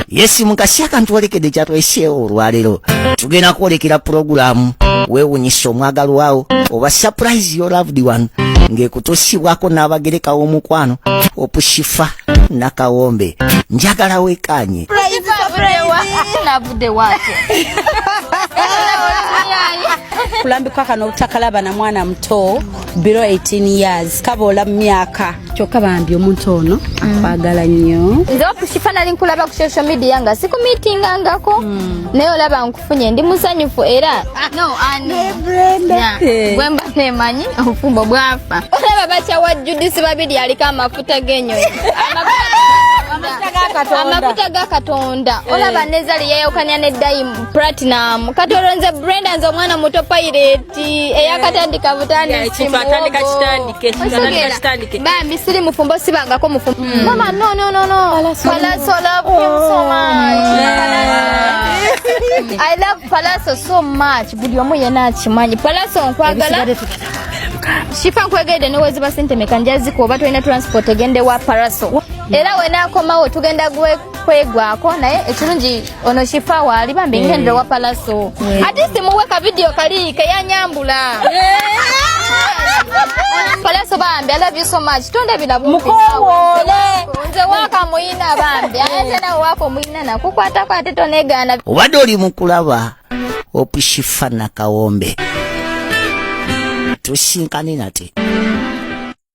yesi mukasi akantu walekede kyatweseewo olwaleero tugenda kwolekera pulogulaamu weewunyisa omwagalwawo oba surprise your loved one ng'ekutuusibwako n'abagereka w'omukwano opushifa nakawombe njagala wekaanye kulambikwa kano obutakalaba na mwana muto below 18 years kaboola mu myaka kyokka bambi omuntu ono akwagala nnyo nze okushifa nali nkulaba ku social media nga sikumitingangako hmm. naye olaba nkufunye ndi musanyufu era ah, gwemba nemanyi obufumbo bwafa olaba bakyawa judisi babiri aliko amafuta g'enyonyi amafuta ga katonda eh. olaba nezali yayawukanya ne dime platinum kati olonze brenda nze omwana muto payireti eyakatandika butandisi bambi siri mufumbo sibangako mufumbo mm. mama no no no no palaso love him so much i love palaso so much buli omu yena akimanyi palaso nkwagala shifa nkwegede neweziba sente meka njaziko oba tolina transport egende wa paraso era wenakomawo tugenda gwe kwegwako naye ekirungi ono shifa waali bambi eh. ngendera wa palaso eh. ati simuwe ka vidiyo kali keyanyambula eh. palaso bambi i love you so much tonde ebilabu mukowole nze waka muyina bambi ate nawe wako muyina nakukwatako ate tonegana obadde oli mukulaba opushifa nakawombe tusinkane nate